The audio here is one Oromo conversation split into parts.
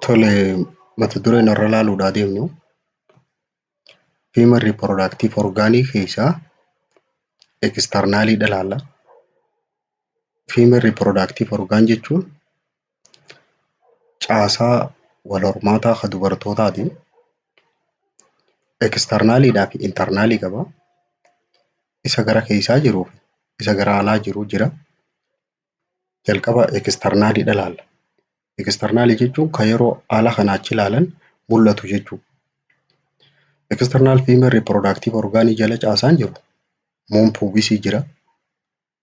Tole mata duree narra ilaaluudhaa deemnu human reproductive organic keessaa externalii ilaalla. Human reproductive organ jechuun caasaa walhormaataa kan dubartootaati. External fi internal qaba. Isa gara keessaa jiruu fi isa gara alaa jiru jira. Jalqaba external ilaalla. External jechuun kan yeroo ala kanaa achi ilaalan mul'atu jechuu dha. External female reproductive organ jala caasaan jiru womb pubis jira.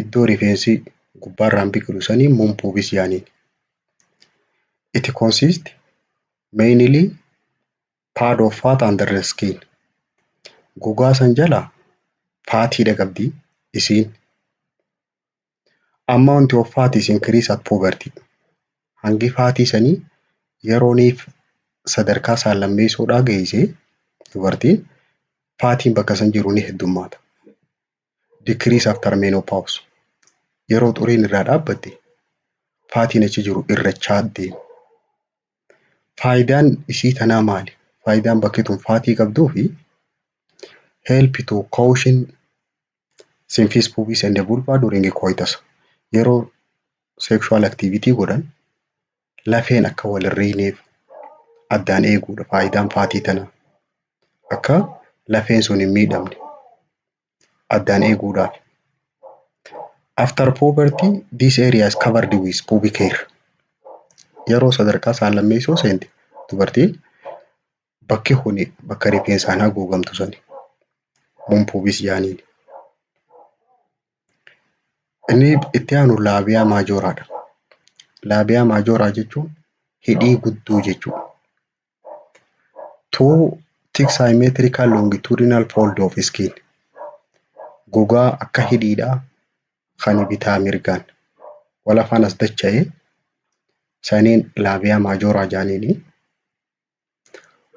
iddoo rifeensi gubbaarraan biqilu sanii mum pubis yaaniin. It consists mainly pad of fat under the skin. Gogaa san jala faatiidha qabdi isiin. Amount of fat is increased at puberty. Hangi faatii sanii yerooniif sadarkaa saallammeessoodhaa geeyse dubartiin faatiin bakka san jiru ni heddummaata. decrease after menopause yeroo xuriin irraa dhaabbatte faatiin achi jiru irrachaa deema. Faayidaan isii tanaa maali? Faayidaan bakki tun faatii qabduu fi help to caution symphysis pubis and vulva during coitus yeroo sexual activity godhan lafeen akka wal hin riineef addaan eeguudha faayidaan faatii tana. Akka lafeen sun hin miidhamne addaan eeguudhaaf. After puberty this area is covered with pubic hair. Yeroo sadarkaa saan lammeessoo seente dubartiin bakki kuni bakka rifeensaan haguugamtu sani. Mun pubis jaaniin. Inni itti aanu laabiyaa maajooraa dha. Laabiyaa maajooraa jechuun hidhii guddoo jechuu dha. Tuu tik saayimeetirikaal loongituudinaal fooldi oof iskiin gogaa akka hidhiidhaa kan bitaa mirgaan wal afaan as dacha'e saniin laabiyaa maajooraa jedhaniini.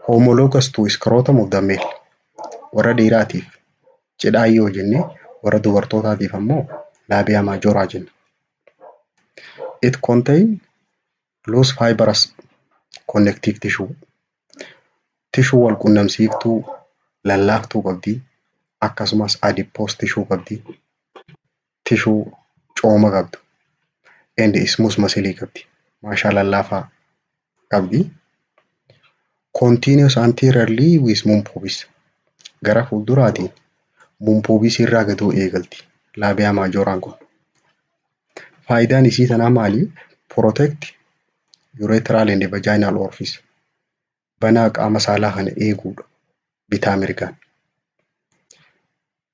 Homologous to scrotum of the male warra dhiiraatiif cidhaa yoo jenne warra dubartootaatiif ammoo laabia majora jenna. It contain loose fibrous connective tissue tishuu wal qunnamsiiftuu lallaaftuu qabdi akkasumas adipose tishuu qabdi. tishuu cooma qabdu and ismus masilii qabdi maashaa lallaafaa qabdi continuous anteriorly with mumpubis gara fuulduraatiin mumpubis irraa gaduu eegalti laabiyaa maajooraan kun faayidaan isii tanaa maali protect urethral and vaginal orifice banaa qaama saalaa kana eeguudha bitaa mirgaan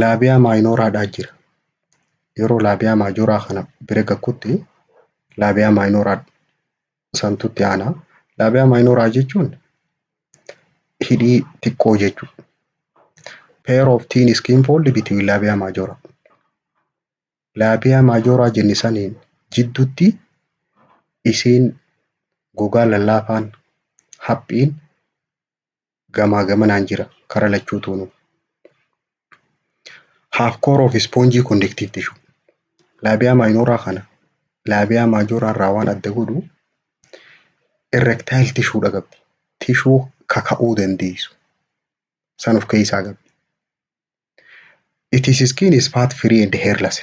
laabiyaa maayinooraadhaa jira. Yeroo laabiyaa maajooraa kana bira gakkutti laabiyaa maayinooraa santutti aanaa. Laabiyaa maayinooraa jechuun hidhii xiqqoo jechuudha. Pair of thin skin fold between laabiyaa maajooraa. Laabiyaa maajooraa jenne saniin jiddutti isiin gogaa lallaafaan haphiin gamaa gamanaan jira kara lachuu tuunu. Half core of sponge conductive tissue. Labia minora kana labia majora irraa waan adda godhu erectile tissue dha qabdi. Tissue kaka'uu dandeessu. San of keessaa qabdi. It is skin is fat free and hairless.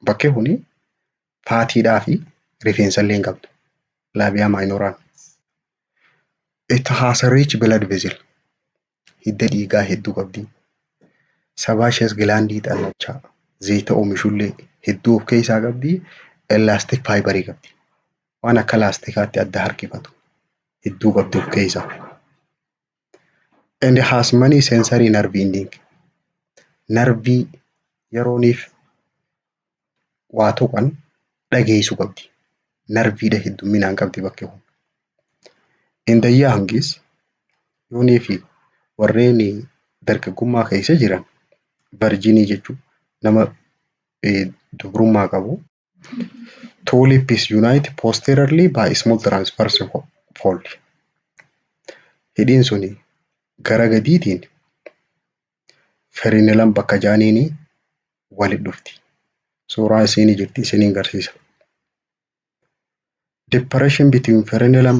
Bakkee kuni faatiidhaa fi rifeensa illee hin qabdu. Laabiyaa maayinooraan. It has a rich blood vessel. Hidda dhiigaa hedduu qabdi. Sabaashees gilaandii xannachaa zayita oomishullee hedduu of keessaa qabdi. Elastic faayibarii qabdi. Waan akka laastikaatti adda harkifatu hedduu qabdi of keessaa. and has many sensory nerve ending narvii yerooniif waa tuqan dhageessu qabdi narviidha heddumminaan qabdi bakke kun inda yaangis yoonii fi warreen dargaggummaa keessa jiran varjinii jechuu nama dubrummaa qabu Two lips unite posteriorly by small transverse fold. Hidhiin suni gara gadiitiin ferinelan bakka jaaniini walit dhufti. Suuraa isiini jirti isinin garsiisa. Depression between frenulum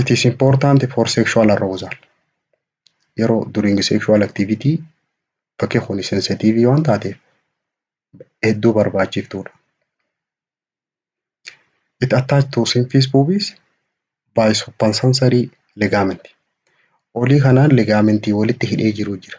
It is important for sexual arousal. Yeroo during sexual activity bakki kun sensitive waan taateef hedduu barbaachiftuudha. It attached to symphysis pubis by suppensensory ligament. Olii kanaan ligaamentii walitti hidhee jiru jira.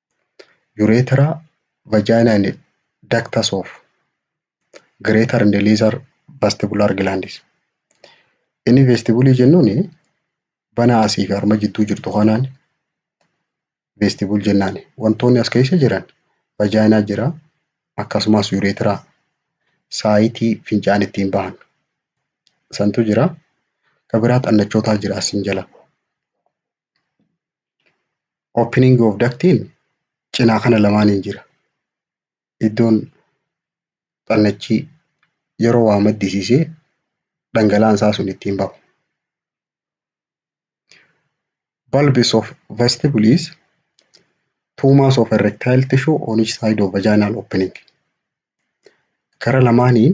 urethra vagina and ductus of greater and lesser vestibular glands inni vestibulii jennuun bana asii fi harma jidduu jirtu kanaan vestibul jennaan wantoonni as keessa jiran vagina jira akkasumas urethra saayitii fincaan ittiin bahan santu jira ka biraa xannachootaa jira asin jala. Opening of ductiin cinaa kana lamaaniin jira. Iddoon xannachii yeroo waa maddisiisee dhangala'aan isaa sun ittiin bahu. Bulbs of vestibule is two mass of erectile tissue on each side of vaginal opening. Kara lamaaniin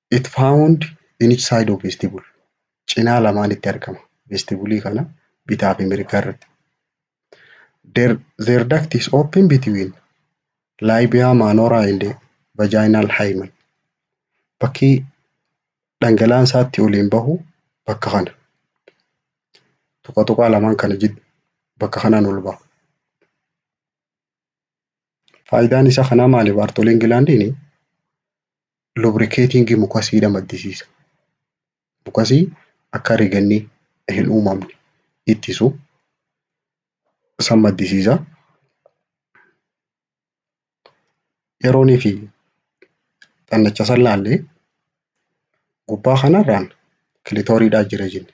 It found in each side of vestibule. Cinaa lamaanitti argama. Vestibulii kana bitaa fi mirgaa irratti. Their, their duct is open between labia minora and vaginal hymen. Bakki dhangala'aan isaatti oliin bahu bakka kana. Tuqa tuqaa lamaan kana jid bakka kanaan ol baha. Faayidaan isa kanaa maali? Baartoliin gilaandiin lubrikeetiingii mukasiidha maddisiisa. Mukasii akka riganni hin uumamne ittisu san maddisiisa. Yeroonii fi xannacha san laallee gubbaa kanarraan kilitooriidhaa jira jenne.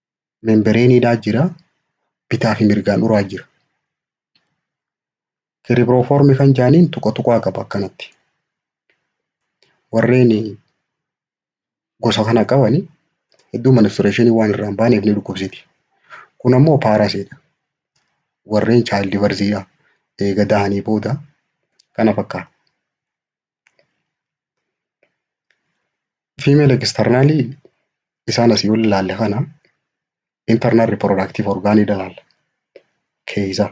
membireeniidhaa jira. Bitaa fi mirgaan uraa jira. Kiribiroofoormi kan jaaniin tuqa tuqaa qaba akkanatti. Warreen gosa kana qabani hedduu manistureeshinii waan irraa hin baaneef ni dhukkubsiti. Kun ammoo paarasiidha. Warreen chaayildi barziidha. Eega dahanii booda kana fakkaata. Female external isaan asii ol ilaalle kana internal reproductive organ ilaalla. Keeysa.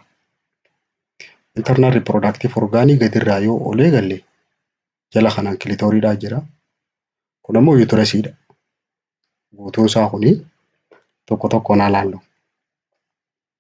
Internal reproductive organ gadirraa yoo ol eegalle jala kanaan kilitooriidhaa jira. Kun ammoo yuutirasiidha. Guutuun isaa kuni tokko tokkoon haa laallu.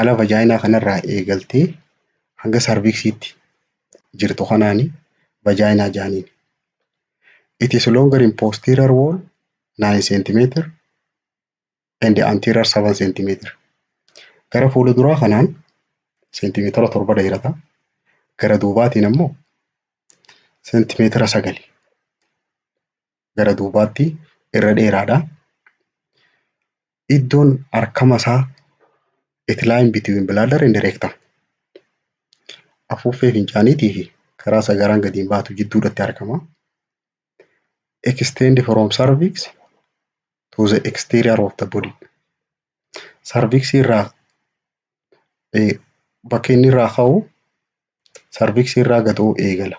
ala vajaayinaa kanarraa eegaltee hanga sarviksiitti jirtu kanaani vajaayinaa jaaniin. It is longer in posterior wall 9 cm and anterior 7 cm. Gara fuula duraa kanaan seentimeetira torba dheerata. Gara duubaatiin ammoo seentimeetira sagali. gara duubaatti irra dheeraadha. Iddoon harkama isaa it line between bladder and rectum. Afuuffee fincaaniitii fi karaa sagaraan gadi hin baatu jidduudhatti argama. Extend from cervix to the exterior of the body. Cervix irraa eh, bakka inni irraa ka'u cervix irraa gadoo eegala.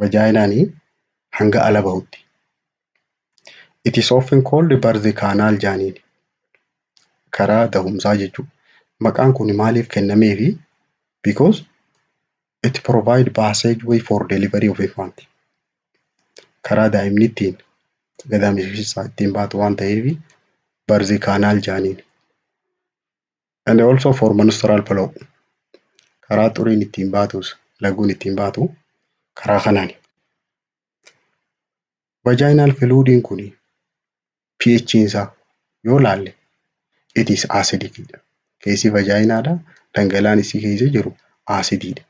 vajaayinaan hanga ala bahutti. It is often called birth canal jaaniin. Karaa dahumsaa jechuudha. Maqaan kun maaliif kennameefi? Because it provide passageway for delivery of infant. Karaa daa'imni ittiin gadaamessa keessaa ittiin baatu waan ta'eef birth canal jaaniin. And also for menstrual flow. Karaa xuriin ittiin baatus, laguun ittiin baatu karaa kanaani. Vaginal fluidin kun pH isaa yoo laalle it is acidic dha. Keessi vagina dha. Dhangalaan isii keessa jiru acidii dha.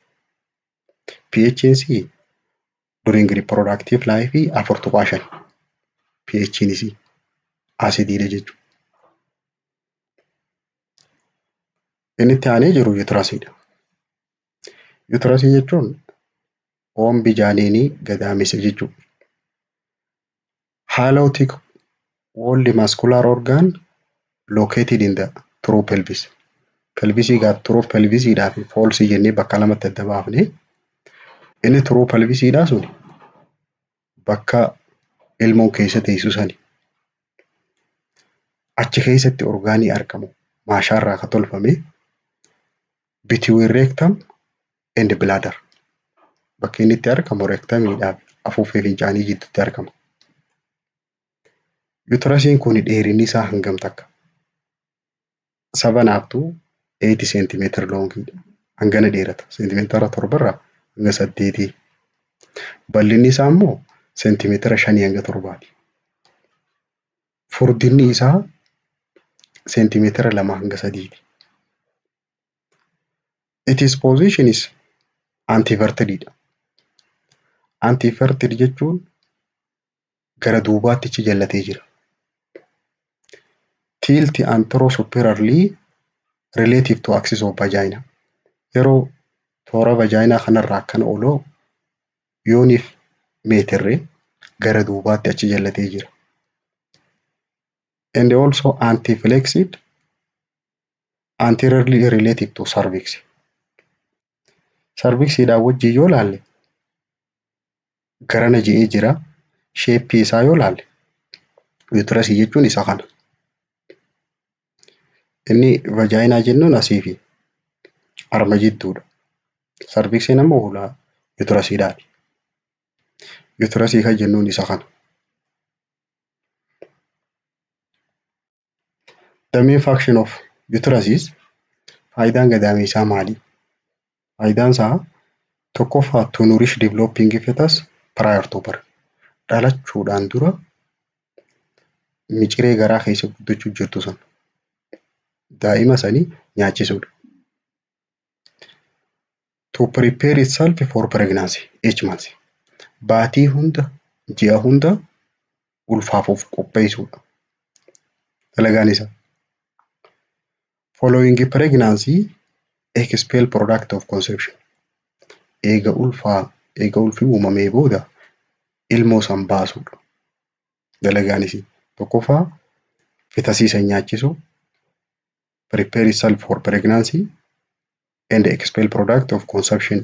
pH isii during reproductive life afur tuqaa shan pH'n isii asidiidha jechuudha. Inni itti aanee jiru yuutirasiidha. Yuutirasii jechuun oombi jaaniinii gadaamessa jechuudha. Halotic walled muscular organ located in the true pelvis. Pelvisii gaaf true pelvisiidhaa fi falsii jennee bakka lamatti adda baafne. Inni true pelvisiidhaa sun bakka ilmoon keessa teessu sani. Achi keessatti orgaanii argamu maashaarraa akka tolfame between rectum and bladder bakki inni itti argamu reektamiidhaaf afuuffee fincaanii jidduutti argama. Yuutirasiin kun dheerinni isaa hangam takka? Seven up to eight seentimeetira loongiidha. Hangana dheerata. Seentimeetira torbarraa hanga saddeetii. Bal'inni isaa immoo seentimeetira shanii hanga torbaati. Furdinni isaa seentimeetira lama hanga sadiiti. Itis position is antiverted dha. Antiverted jechuun gara duubaatti achi jallatee jira. Tilt and throw superiorly relative to axis of vagina. Yeroo toora vajaayinaa kanarraa akkana oloo yooniif meetirre gara duubaatti achi jallatee jira. And also anti-flexed anteriorly related to cervix. Sarviksiidhaan wajjin yoo laalle garana je'ee jira. Sheeppii isaa yoo laalle yuutirasii jechuun isa kana. Inni vajaayinaa jennuun asii fi arma jidduudha. Sarviksiin ammoo hulaa yuutirasiidhaati. Yuutirasii kan jennuun isa kana. The main function of uterus is faayidaan gadaameessaa maali? Faayidaan isaa tokkoffaa to nourish developing fetus prior to birth. Dhalachuudhaan dura miciree garaa keessa guddachuu jirtu sana daa'ima sanii nyaachisuudha. To prepare itself for pregnancy, each month. Baatii hunda, ji'a hunda ulfaaf of qopheessuudha. Dalagaan isaa. Following pregnancy, expel product of conception. Eega ulfaa, eega ulfi uumamee booda ilmoo san baasuudha. Dalagaan isii. Tokkoffaa fetasii san nyaachisuu, prepare itself for pregnancy and expel product of consumption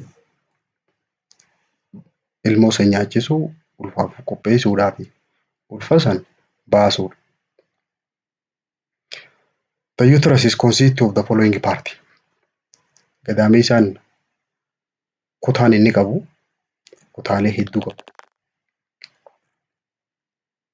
ilmoo san nyaachisuu ulfaaf qopheessuudhaa fi ulfa san baasuudha. The uterus is consist of the following part. Gadaameessaan kutaan inni qabu kutaalee hedduu qabu.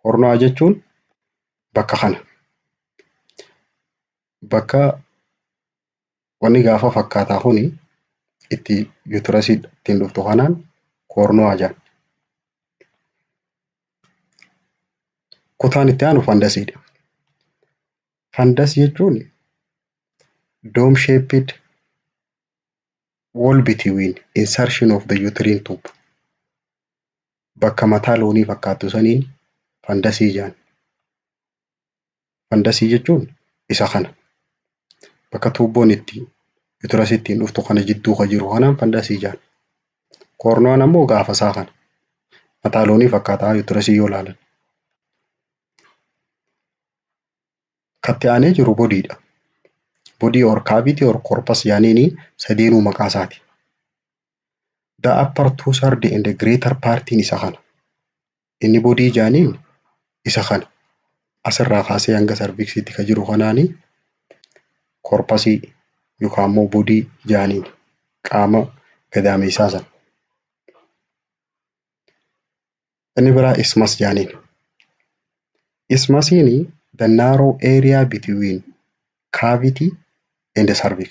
Kornaa jechuun bakka kana. Bakka wanni gaafa fakkaataa kuni itti yuutirasii ittiin dhuftu kanaan koornuwaa jedhan. Kutaan itti aanu fandasiidha. Fandas jechuun dome shaped wall between insertion of the uterine tube bakka mataa loonii fakkaattu saniin fandasii jedhan. Fandasii jechuun isa kana. Bakka tuubboon itti yutirasii ittiin dhuftu kana jidduu ka jiru kanaan fandasii jedhan. Koorno'aan ammoo gaafa isaa kana. Mataa loonii fakkaata yutirasii yoo ilaalan. Katti aanee jiru bodiidha. Bodii or kaaviitii or korpas jedhaniini sadeenuu maqaa isaati. the upper two third and the greater partiin isa kana inni bodii jaaniin isa kana asirraa kaasee hanga sarviksiitti ka jiru kanaani korpasii yookaan immoo bodii jaaniin qaama gadaameessaa sana. Inni biraa ismas jaaniin. Ismasiin the narrow area between cavity and the cervix.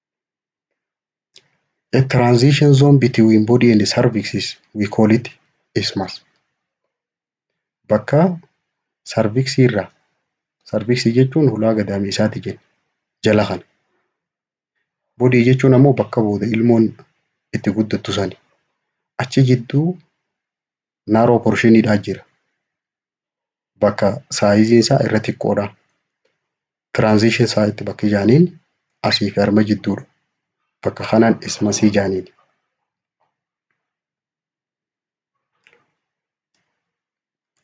A transition zone between body and cervix is we call it isthmus. Bakka sarviksii irraa sarviksii jechuun hulaa gadaamiisaati jenna jala kana. Bodii jechuun ammoo bakka booda ilmoon itti guddattu sani. Achi jidduu naaroo porshiinidhaa jira. bakka saayiziin isaa irra xiqqoodha. Transition site bakki jaaniin asii fi harma jidduudha. Bakka kanaan ismasii jaaniin.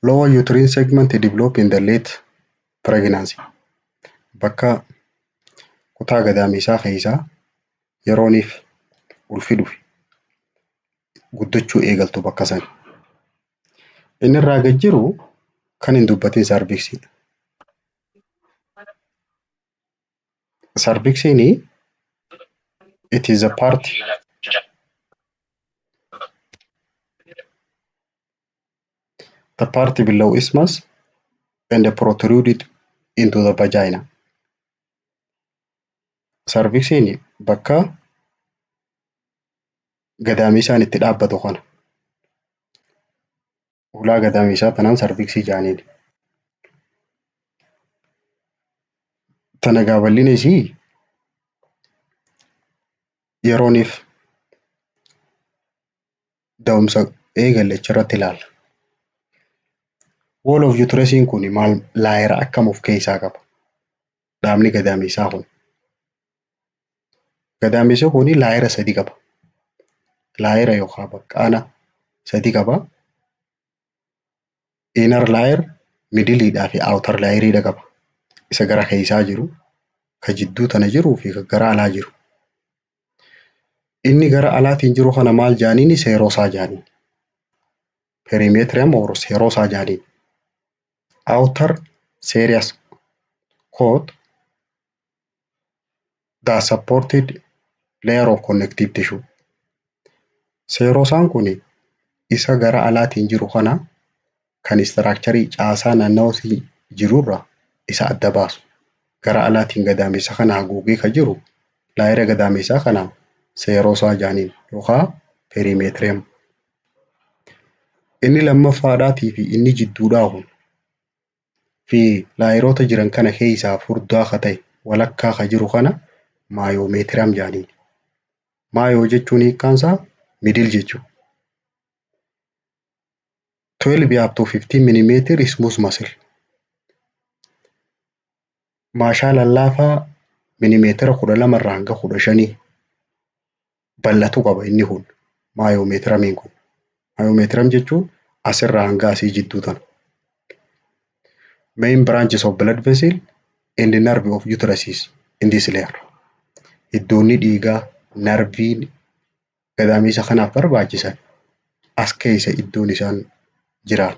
Lower uterine segment develop in the late pregnancy. Bakka kutaa gadaameessaa keessaa yerooniif ulfi dhufe guddachuu eegaltu bakka sana. Inni irraa gad jiru kan hin dubbatin saarviksiidha. Saarviksiin it is a part the part below isthmus and protruded into the vagina. Saarviksiin bakka gadaamiisaan itti dhaabbatu kana hulaa gadaamiisaa tanaan sarviksii jaaniin. Tana egaa bal'ina isii yerooniif da'umsa eegale achirratti ilaalla. Wall of uteresiin kun maal laayera akkam of keessaa qaba? dhaabni gadaameessaa kun. Gadaameessi kun laayera sadii qaba. Laayera yookaan baqqaana sadii qaba. Inner layer, middle dhaa fi outer layer dha qaba. Isa gara keessaa jiru, ka jidduu tana jiruu fi ka gara alaa jiru. Inni gara alaatiin jiru kana maal jaaniini seerosaa jaaniin. Perimetrium or seerosaa jaaniin. Author Serious Quote, The supported layer of connective tissue. Seerosaan kun isa gara alaatiin jiru kana kan istiraakcharii caasaa naannawasii jirurra isa adda baasu. Gara alaatiin gadaamessa kana haguugee ka jiru laayira gadaamessaa kana seerosaa jaaniin yookaa perimeetiriyam. Inni lammaffaadhaatii fi inni jidduudhaa kun fi laayeroota jiran kana keessaa furdaa ka ta'e walakkaa ka jiru kana maayoomeetiram jedhaniin. Maayoo jechuun hiikkaan isaa miidil jechuudha. 12 up to 15 millimeter smooth muscle. Maashaa lallaafaa milimeetira kudha lama irraa hanga kudha shanii bal'atuu qaba inni kun maayoomeetiramiin kun. Maayoomeetiram jechuun asirraa hanga asii jidduu tana. Main branches of blood vessel and nerve of uteruses in this layer. Iddoonni dhiigaa, narviin gadaamiisa kanaaf barbaachisan as keessa iddoon isaan jiraan.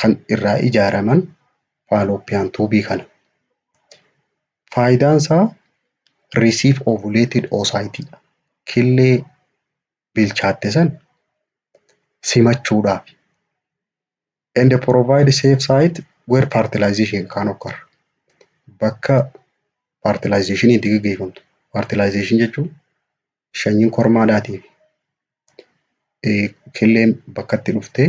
kan irraa ijaaraman Fallopian tube kana. Faayidaan isaa receive ovulated oocyte dha. Killee bilchaatte san simachuudhaafi. And provide safe site where fertilization can occur. Bakka fertilization itti gaggeeffamtu. Fertilization jechuun shanyiin kormaadhaatii fi killeen bakkatti dhuftee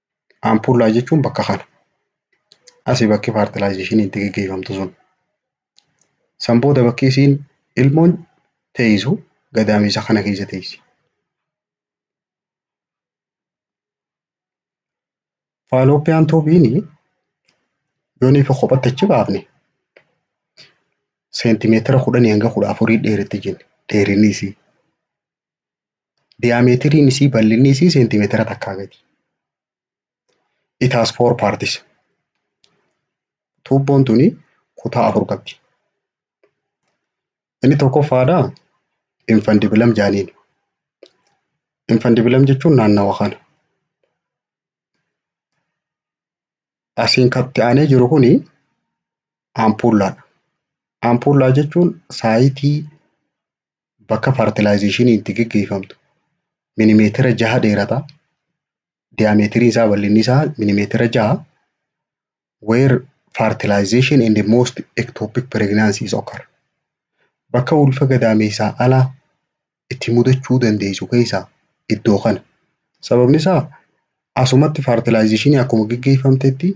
Ampullaa jechuun bakka kana. Asi bakki faartilaayizeeshiniin itti geggeeffamtu sun. San booda bakki isiin ilmoon teessu gadaamessa kana keessa teessi. Faalooppiyaan tuubiin yoo niifa kophatti achi baafne seentimeetira kudhanii hanga kudha afurii dheeratti jenna dheerinni isii. Diyaameetiriin isii bal'inni isii seentimeetira takkaa gadi. It has four parts. Tuubboon tuni kutaa afur qabdi. Inni tokkoffaadha infandibilam jaaniin. Infandibilam jechuun naannawa kana. Asiin katti aanee jiru kuni ampuullaadha. Ampuullaa jechuun saayitii Bakka faartilaayizeeshiniin itti geggeeffamtu milimeetira jaha dheerata. Diyaameetiriin isaa bal'inni isaa milimeetira jaha. Where fertilization and the most ectopic pregnancies occur. Bakka ulfa gadaameessaa ala itti mudachuu dandeessu keessaa iddoo kana. Sababni isaa asumatti faartilaayizeeshinii akkuma geggeeffamtetti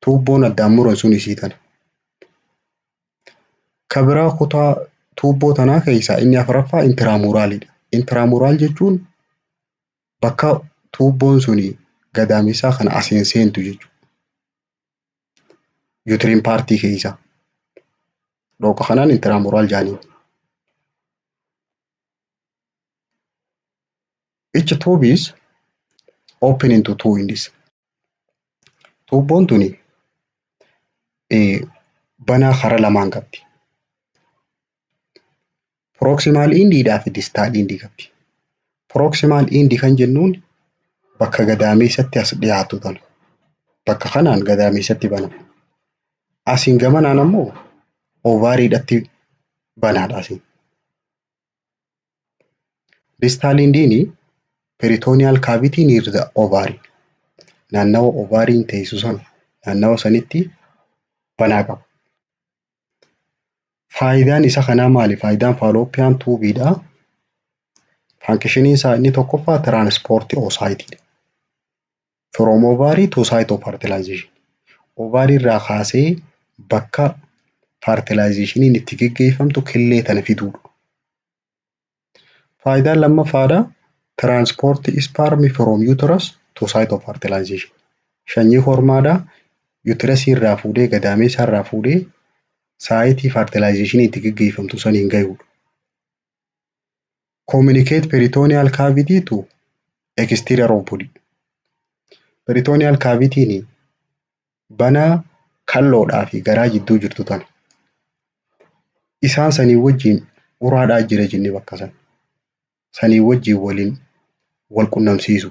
Tuubboon addaan muran sun isii tana. Ka biraa kutaa tuubboo tanaa keessaa inni afraffaa intiraamuraalidha. Intiraamuraal jechuun bakka tuubboon suni gadaamessaa kana asiin seentu jechuudha. Yuutiriin paartii keessaa. Dhooqa kanaan intiraamuraal jaaniin. Each tube is open into two in this. Tuubboon tuni banaa karaa lamaan qabdi. Proximal end dhaa fi distal end qabdi. Proximal end kan jennuun bakka gadaameessatti as dhiyaatu tana. Bakka kanaan gadaameessatti banama. Asiin gamanaan ammoo ovariidhatti banaadha asiin. Distal indiini peritoneal cavity near the ovary. Naannawa ovaariin teessu sana naannawa sanitti banaa qaba. Faayidaan isa kanaa maali? Faayidaan fallopian tube dha. Fankishiniin isaa inni tokkoffaa transport oocyte dha. From ovary to site of fertilization. Ovary irraa kaasee bakka fertilizationiin itti geggeeffamtu killee tana fiduudha. Faayidaan lammaffaadha. Transport sperm from uterus to site of fertilization. Shanyii hormaadha. Uterusii irraa fuudhee gadaameessaa irraa fuudhee saayitii fertilizationiin itti geggeeffamtu saniin gayuudha. communicate peritoneal cavity to exterior of body. Peritoneal cavity ni banaa kalloodhaa fi garaa jidduu jirtu tana. Isaan sanii wajjin uraadhaa jira jenne bakka san. Sanii wajjin waliin wal qunnamsiisu.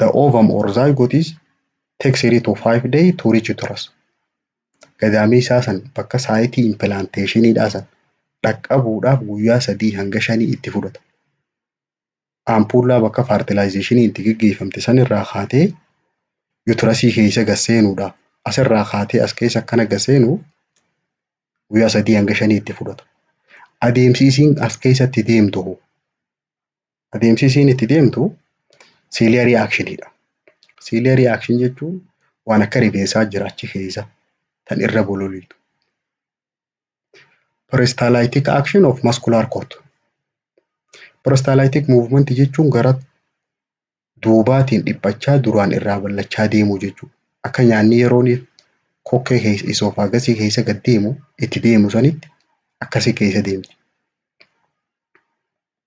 the ovum or zygote is take three to five day to reach uterus. Gadaamii isaa san bakka saayitii impilaanteeshiniidhaa san dhaqqabuudhaaf guyyaa sadii hanga shanii itti fudhata. Ampuullaa bakka faartilaayizeeshinii itti geggeeffamte san irraa kaatee yuutirasii keessa gasseenuudhaaf asirraa kaatee as keessa akkana gasseenuuf guyyaa sadii hanga shanii itti fudhata. Adeemsi isiin as keessatti deemtu hoo Adeemsi isiin itti deemtu siiliyarii aakshiniidha. Siiliyarii aakshin jechuun waan akka rifeensaa jira achi keessa tan irra bololiitu. Peristalaayitik aakshin of maskulaar koot. Peristalaayitik muuvmenti jechuun gara duubaatiin dhiphachaa duraan irraa bal'achaa deemuu jechuudha. Akka nyaanni yeroon kokkee keessa isoofagasii keessa gad deemu itti deemu sanitti akkasii keessa deemti.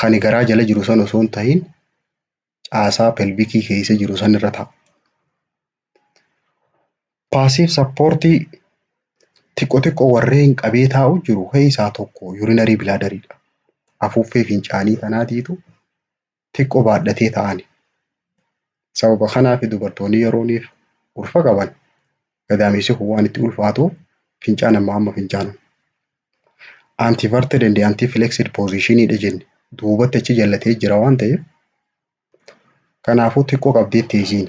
Kani garaa jala jiru san osoo hin tahin caasaa pelvikii keessa jiru san irra ta'a. Paasiif sappoortii xiqqo xiqqo warreen qabee taa'u jiru keessaa tokko yuurinarii bilaadariidha. Afuuffee fincaanii kanaatiitu xiqqo baadhatee ta'ani. Sababa kanaaf dubartoonni yerooniif ulfa qaban gadaamessi kun waan itti ulfaatu fincaan amma amma fincaanan. Antiverted and antiflexed position dha jenne duubatti achi jallatee jira waan ta'eef kanaafuu xiqqoo qabdee teessiin.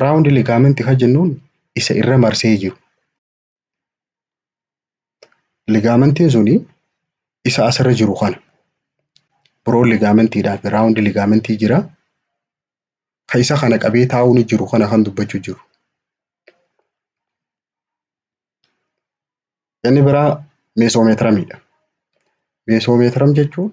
Round ligament kan jennuun isa irra marsee jiru. Ligamentiin suni isa asirra jiru kana. Broad ligamentidhaa fi round ligamentii jira. Ka isa kana qabee taa'uun jiru kana kan dubbachuu jiru. Inni biraa meesoomeetiramidha. Meesoomeetiram jechuun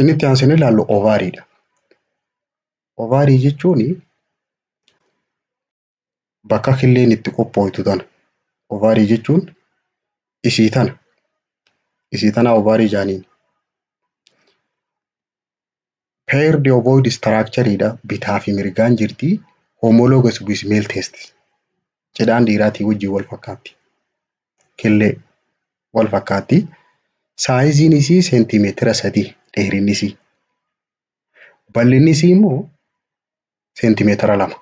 Inni itti aansinee ilaallu ovaariidha. Ovaarii jechuun bakka killeen itti qophooytu tana. Ovaarii jechuun isii tana. Isii tana ovaarii jaaniin. Paired ovoid structure dha. Bitaa fi mirgaan jirti. Homologous with male testes. Cidhaan dhiiraatii wajjin wal fakkaatti. killee wal fakkaatti. Saayiziin isii seentimeetira sadii dheerinni isii. Bal'inni isii immoo seentimeetira lama.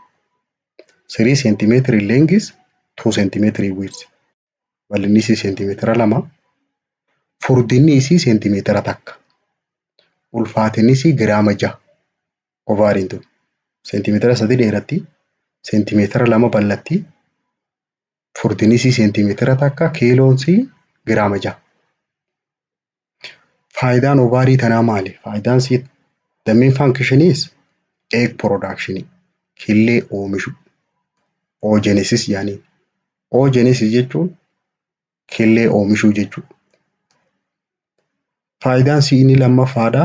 Sirii seentimeetiri leengis tuu seentimeetiri wiidsi. Bal'inni isii seentimeetira lama. Furdinni isii seentimeetira takka. Ulfaatinni isii giraama jaha. Ovaariin tun seentimeetira sadii dheeratti. Seentimeetira lama bal'atti. Furdinni isii seentimeetira takka kiiloon isii giraama jaha. Faayidaan ovaarii tanaa maali? Faayidaan isii the main function is egg production killee oomishu oogenesis jedhaniin. Oogenesis jechuun killee oomishuu jechuudha. Faayidaan isii inni lammaffaadha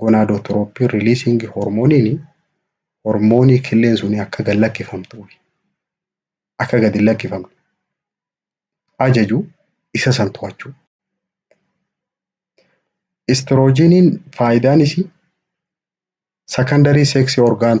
gonadotropin releasing hormoniin hormoonii killeen sun akka gad lakkifamtuu fi akka gad hin lakkifamne ajaju isa san to'achuu. Istiroojiiniin faayidaan isii secondary sex organ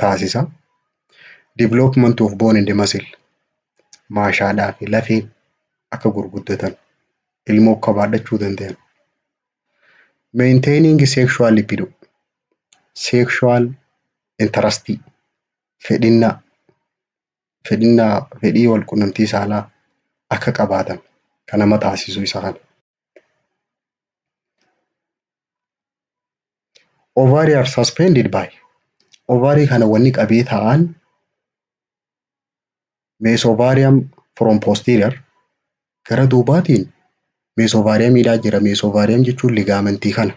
taasisa. Development of bone and muscle maashaadhaa fi lafee akka gurguddatan ilmoo akka baadhachuu danda'an. Maintaining sexual libido sexual interest fedhinnaa fedhinnaa fedhii wal qunnamtii saalaa akka qabaatan kan nama taasisu isa kana. Ovary are suspended by ovary kana wanni qabee ta'an meesovarium from posterior gara duubaatiin meesovaariyamiidhaa jira. Meesovaariyam jechuun ligaamentii kana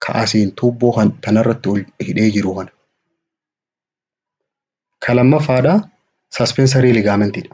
ka asiin tuubboo kan tanarratti ol hidhee jiru kana. Ka lammaffaadha suspensory ligamentidha.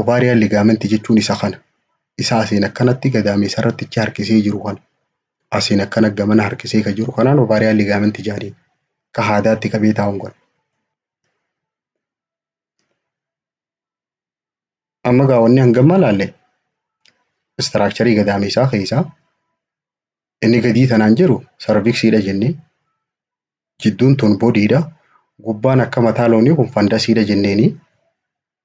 Ovarian ligament jechuun isa kana. Isa asiin akkanatti gadaameessa irratti ichi harkisee jiru kana. Asiin akkana gamana harkisee ka jiru kanaan ovarian ligament jaaniin. Ka haadaatti qabee taa'uun kana. Amma gaa wanni hangamma laalle istiraakcharii gadaameessaa keessaa inni gadii tanaan jiru sarviksiidha jennee jidduun tun bodiidha gubbaan akka mataa loonii kun fandasiidha jenneeni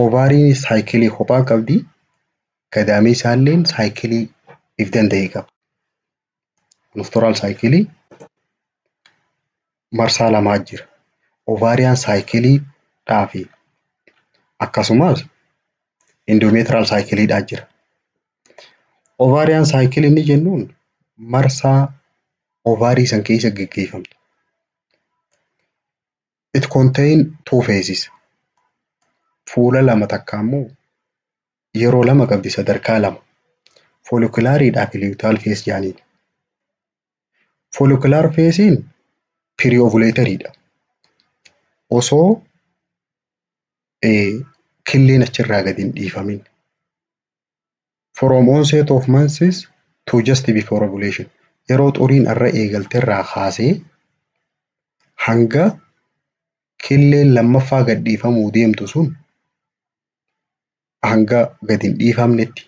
Ovaariin saayikilii kophaa qabdi. Gadaameessaalleen saayikilii if danda'e qaba. Monostooraal saayikilii marsaa lamaa jira. Ovaariyaan saayikilii dhaa fi akkasumas indoomeetiraal saayikilii dhaa jira. Ovaariyaan saayikilii inni jennuun marsaa ovaarii san keessa geggeeffamtu. It contain two phases. Fuula lama takka ammoo yeroo lama qabdi sadarkaa lama. Foolikulaaridhaa fi liyutaal fees jaaniin. Foolikilaar feesiin piriyovuleetariidha. Osoo killeen achirraa gadi hin dhiifamin. From onset of menses to just before ovulation. Yeroo xuriin irra eegalte irraa kaasee hanga killeen lammaffaa gadhiifamuu deemtu sun hanga gadi hin dhiifamnetti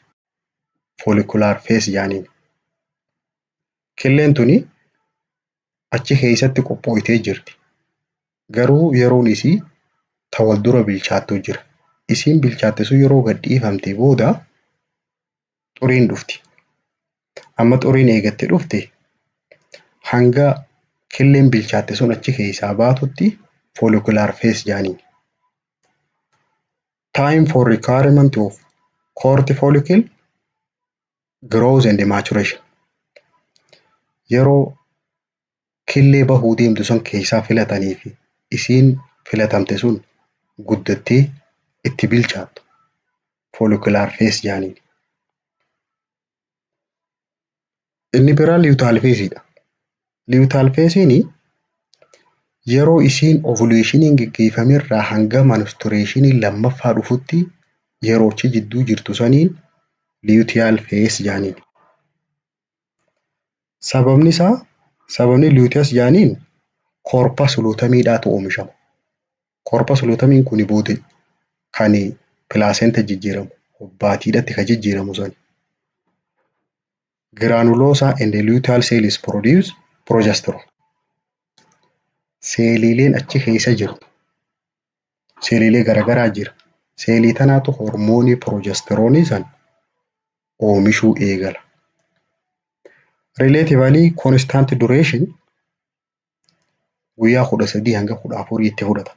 follicular phase jaaniin. Killeen tuni achi keessatti qophooytee jirti. Garuu yeroon isii ta wal dura bilchaattu jira. Isiin bilchaatte sun yeroo gad dhiifamte booda xuriin dhufti. Amma xuriin eegatte dhufte hanga killeen bilchaatte sun achi keessaa baatutti follicular phase jaaniin. Time for requirement of court follicle growth and maturation. Yeroo killee bahuu deemtu san keeysaa filatanii fi isiin filatamte sun guddattee itti bilchaattu follicular phase jaaniin. Inni biraa luteal phase dha. Luteal phase ni yeroo isiin ovulationiin geggeeffame irraa hanga menstruationiin lammaffaa dhufutti yeroo achi jidduu jirtu saniin luteal phase jaaniin. Sababni isaa sababni luteus jaaniin corpus lutamiidhaatu oomishama. Corpus lutamiin kuni booda kan placenta jijjiiramu hobbaatiidhatti kan jijjiiramu sani. Granulosa and luteal cells produce progesterone. Seeliileen achi keessa jiru seeliilee garagaraa jira. Seelii tanaatu hormoonii piroojastiroonii san oomishuu eegala. Relatively constant duration guyyaa kudha sadii hanga kudha afurii itti fudhata.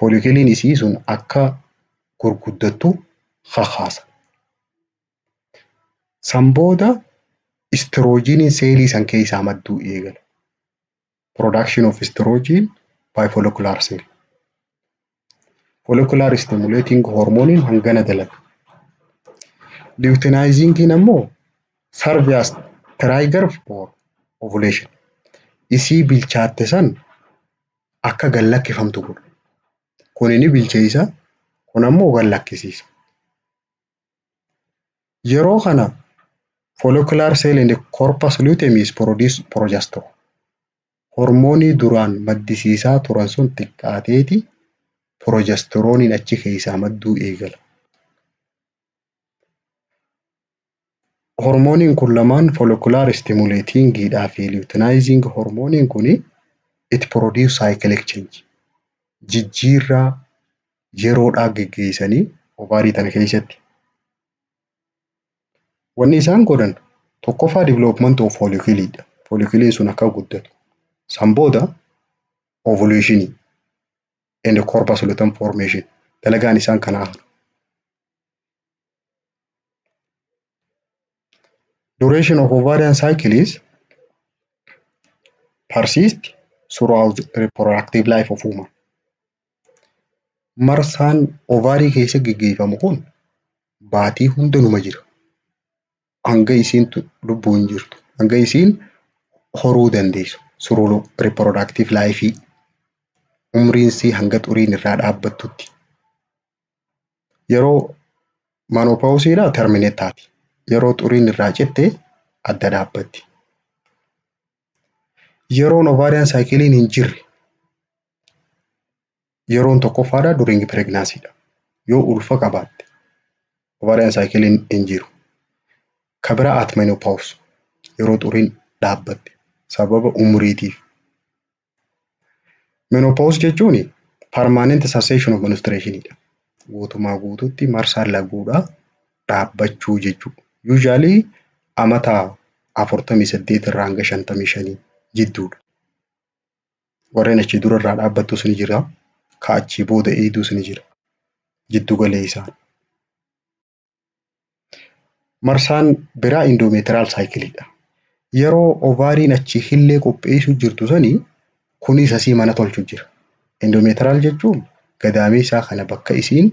folikeliin isii sun akka gurguddattu kakaasa. San booda istiroojiiniin seelii san keessaa madduu eegala. Production of estrogen by follicular cell. Follicular stimulating hormoniin hangana dalaga. Luteinizingin ammoo serve as trigger for ovulation. Isii bilchaatte san akka gad lakkifamtu godhu. Kun ni bilcheessa, kun ammoo gad lakkisiisa. Yeroo kana follicular cell and corpus luteum is produce progesterone. Hormoonii duraan maddisiisaa turan sun xiqqaateeti progesteroniin achi keessaa madduu eegala. Hormooniin kun lamaan follicular stimulating dha fi luteinizing hormooniin kun it produce cyclic change jijjiirraa yeroodhaa geggeessanii ovaarii tana keessatti. Wanni isaan godhan tokkoffaa development of follicle dha. Folliculiin sun akka guddatu. San booda ovulation and corpus luteum formation dalagaan isaan kanaa kana. Duration of ovarian cycle is persist throughout reproductive life of woman. Marsaan ovaarii keessa geggeeffamu kun baatii hunda numa jira. hanga isiin lubbuun jirtu hanga isiin horuu dandeessu suruu riprodaaktiif laayifii umriinsii hanga xuriin irraa dhaabbattutti yeroo maanoopaawusiidha termineet taati yeroo xuriin irraa citte adda dhaabbatti yeroon ovaariyaan saayikiliin hin jirre yeroon tokkoffaadha during pregnancy dha. Yoo ulfa qabaatte ovarian cycle hin jiru. Ka biraa at menopause yeroo xuriin dhaabbatte sababa umuriitiif. Menopause jechuun permanent cessation of menstruation dha. Guutumaa guututti marsaan laguudha dhaabbachuu jechuudha. Usually amata afurtamii saddeet irraa hanga shantamii shanii jidduudha. Warreen achii dura irraa dhaabbattus ni jira. Ka achii booda eeydus ni jira. Jiddu galeessaan. Marsaan biraa indoomeetiraal saayikiliidha. Yeroo ovaariin achi hillee qopheessuu jirtu sanii kunis asii mana tolchu jira. Indoomeetiraal jechuun gadaameessaa kana bakka isiin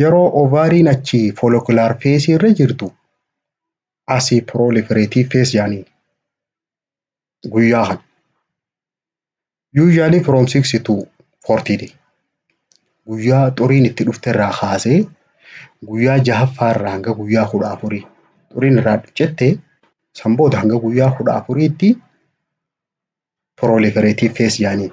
Yeroo ovaariin achi follicular phase irra jirtu asi proliferative phase jedhaniin guyyaa kana. Usually from 6 to 40 day. Guyyaa xuriin itti dhufte irraa kaasee guyyaa jahaffaa irraa hanga guyyaa kudha afurii xuriin irraa jette san booda hanga guyyaa kudha afuriitti proliferative phase jedhaniin.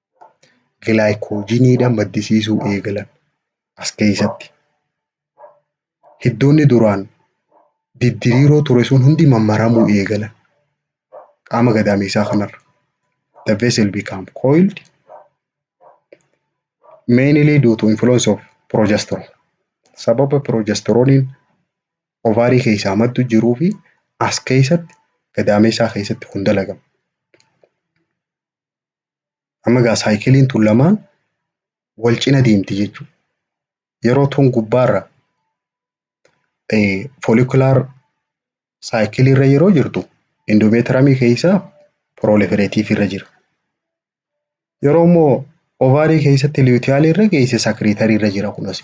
gilaayikoojiniidhaan maddisiisuu eegalan as keessatti. Hiddoonni duraan diddiriiroo ture sun hundi mammaramuu eegalan qaama gadaameessaa kanarra. The vessel become coiled mainly due to influence of progesterone. Sababa progesteroniin ovaarii keessaa maddu jiruu fi as keessatti gadaameessaa keessatti kun dalagama. Amma egaa saayikiliin tun lamaan wal cina deemti jechuudha. Yeroo tun gubbaarra foolikilaar saayikiliirra yeroo jirtu indoomeetiramii keessa piroolefereetiivii irra jira. Yeroo immoo ovaarii keessatti liwutiyaalii irra geesse sakiriitarii irra jira kunas.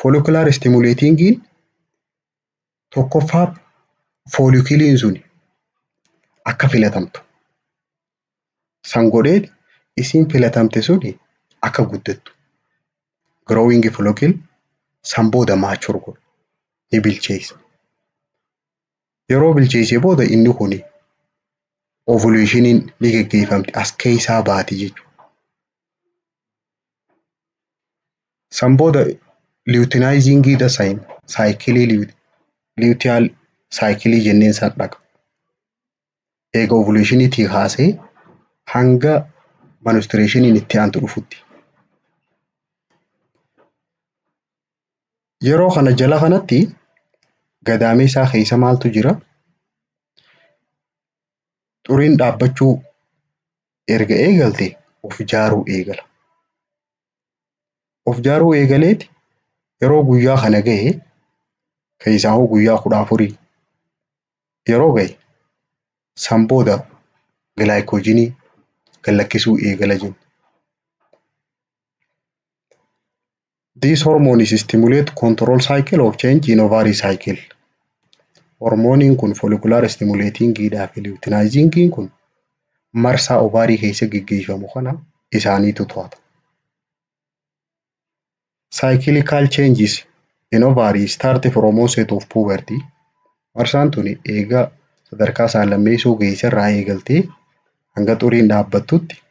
Foolikular stimulatingiin tokkoffaa foolikiliin sun akka filatamtu san godhee isiin filatamte sun akka guddattu growing follicle san booda mature godhu ni bilcheessa. Yeroo bilcheessee booda inni kun ovulationiin ni geggeeffamti as keessaa baati jechuudha. San booda liyutinaayiziingii dasayin saayikilii liyutiyaal saayikilii jenneen san dhaqa. Eega ovuleeshiniitii kaasee hanga manustireeshiniin itti aantu dhufutti. Yeroo kana jala kanatti gadaameessaa keessa maaltu jira? Xuriin dhaabbachuu erga eegalte of ijaaruu eegala. Of ijaaruu eegalee yeroo guyyaa kana gahe keessaa hoo guyyaa kudha afurii yeroo gahe san booda gilaayikoojinii gad lakkisuu eegala jenna. This hormone is stimulate control cycle of change in ovary cycle. Hormooniin kun follicular stimulating dhaa fi luteinizing kun marsaa ovaarii keessa geggeeffamu kana isaaniitu to'ata. Cyclical changes in ovary start from onset of puberty. Marsaan tuni eega sadarkaa isaa lammeessoo geessa irraa eegaltee hanga xuriin dhaabbattutti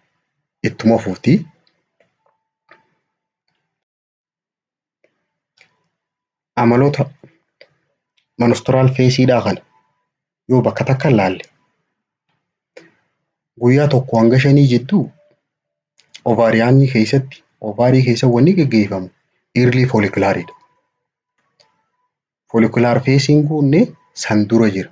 ittuma fufti. amaloota manustiraal feesiidhaa kana yoo bakka takka laalle guyyaa tokko hanga shanii jidduu ovaariyaanii keessatti ovaarii keessa wanni geggeeffamu irlii foolikulaaridha. Foolikilaar feesiin kunnee san dura jira.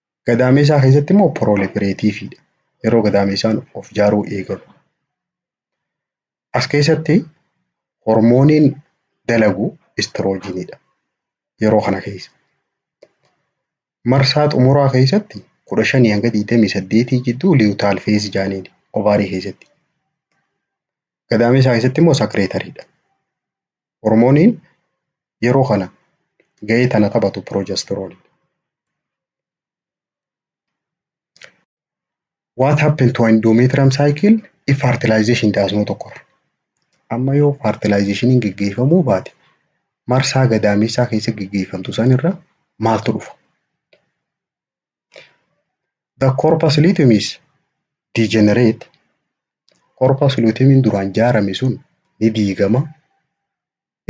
Gadaameessaa keessatti immoo piroolifireetiiviidha. Yeroo gadaameessaan of ijaaruu eegalu. As keessatti hormooniin dalagu istiroojiinidha. Yeroo kana keessa. Marsaa xumuraa keessatti kudha shanii hanga digdamii saddeetii jidduu liwutaal feezi jaaniin ovaarii keessatti. Gadaameessaa keessatti immoo sakireetariidha. Hormooniin yeroo kana gahee tana taphatu progesterone. What happened to endometrium cycle if fertilization does not occur? Amma yoo fertilizationiin geggeeffamuu baate marsaa gadaameessaa keessa geggeeffamtu sanirra maaltu dhufa? The corpus luteum is degenerate. Corpus luteum duraan jaarame sun ni diigama.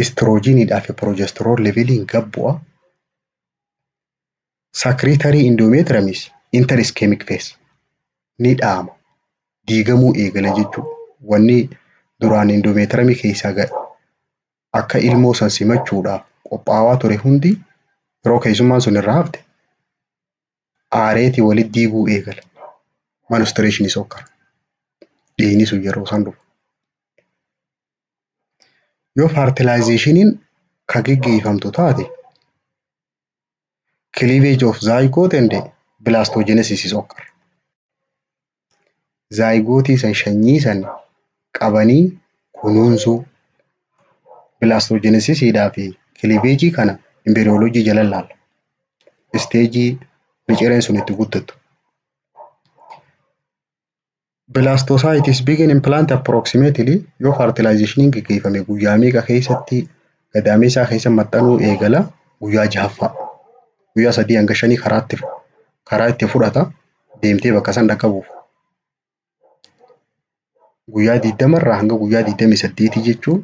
Istiroojiiniidhaa fi progesterone leveliin gad bu'a. Secretory endometrium is enter ischemic phase. Ni dhaama. Diigamuu eegala jechuudha. Wanni duraan endometrium keessaa gad akka ilmoo san simachuudhaaf qophaawaa ture hundi yeroo keessummaan sun irraa hafte aareeti walit diiguu eegala. Manustireeshinii sokkara. Dhiigni sun yeroo san dhufa. Yoo faartilaayizeeshiniin ka geggeeffamtu taate cleavage of zygote and blastogenesis is occur. zaayigootii san shanyii san qabanii kunuunsuu bilaastoojeenesisiidhaa fi kiliveejii kana imbeeriyooloojii jala laalla. Isteejii micireen sun itti guddattu. Bilaastoosaayitiis biigin impilaanti appiroksimeetili yoo faartilaayizeeshiniin geggeeffame guyyaa meeqa keessatti gadaameessaa keessa maxxanuu eegala guyyaa jahaffaa. Guyyaa sadii hanga shanii karaatti karaa itti fudhata. deemtee bakka san dhaqqabuuf guyyaa digdama irraa hanga guyyaa digdamii saddeetii jechuun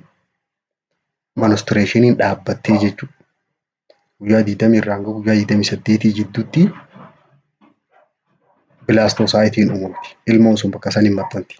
manustireeshiniin dhaabbattee jechuudha. Guyyaa digdamii irraa hanga guyyaa digdamii saddeetii jidduutti bilaastosaayitiin uumamti. Ilmoon sun bakka san hin maxxanti.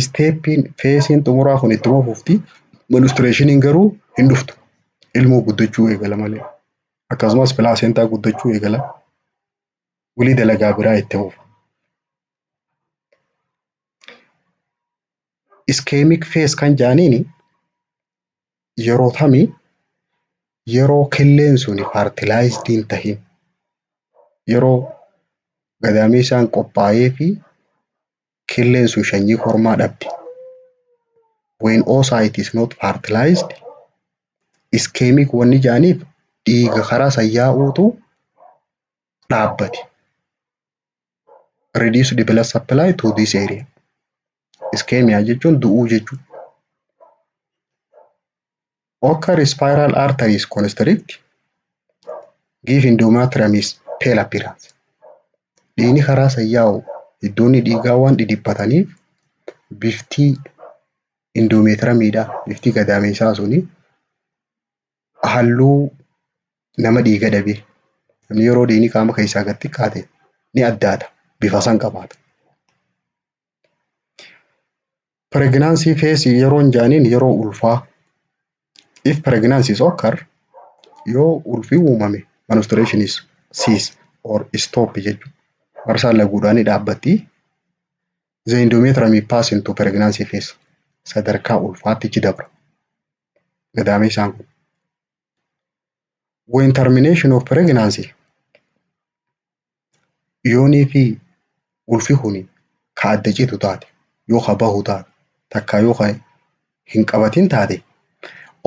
isteeppiin feesiin xumuraa kun itti fufti ministireeshiniin garuu hin dhuftu ilmoo guddachuu eegala malee akkasumas pilaaseentaa guddachuu eegala walii dalagaa biraa itti fufa. Iskeemik fees kan jaaniin yeroo tami yeroo killeen sun faartilaayizdi hin tahin yeroo gadaameessaan qophaa'ee fi killeen sun shanyii kormaa dhabdi. When oocyte is not fertilized, ischemic wanni jaaniif dhiiga karaa san yaa'uutu dhaabbate. Reduce the blood supply to this area. Ischemia jechuun du'uu jechuudha. Occur spiral arteries constrict give endometriumis pale appearance. Dhiigni karaa san yaa'u iddoonni dhiigaa waan dhidhiphataniif biftii indoomeetiramiidha biftii gadaameessaa suni halluu nama dhiiga dhabe namni yeroo dhiigni qaama keessaa gad xiqqaate ni addaata bifa san qabaata. Pireeginaansii feesii yeroon jaaniin yeroo ulfaa. If pregnancies occur yoo ulfi uumame menstruation is cease or stop jechuudha. Marsaan laguudhaa ni dhaabbatti. The endometrium is pass into pregnancy phase. Sadarkaa ulfaatti ichi dabra. Gadaamee isaan kun. When termination of pregnancy yoonii fi ulfi kuni ka adda citu taate yoo ka bahu taate takka yoo ka hin qabatin taate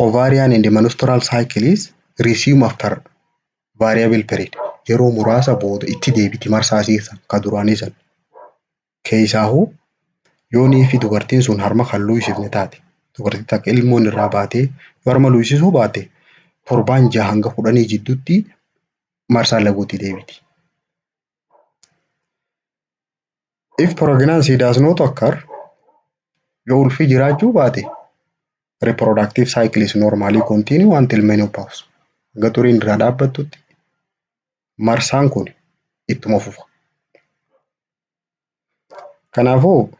ovarian and menstrual cycle is resume after variable period yeroo muraasa booda itti deebiti marsaa isii san ka duraanii san. Keessaahuu yoo niifi dubartiin sun harma kan luuysifne taate dubartii takka ilmoon irraa baatee yoo harma luuysisuu baate torbaan jaha hanga kudhanii jidduutti marsaa laguutti deebiti. If pregnancy does not occur yoo ulfi jiraachuu baate reproductive cycle is normally continue until menopause. Hanga xuriin irraa dhaabbattutti marsaan kun ittuma fufa. Kanaafuu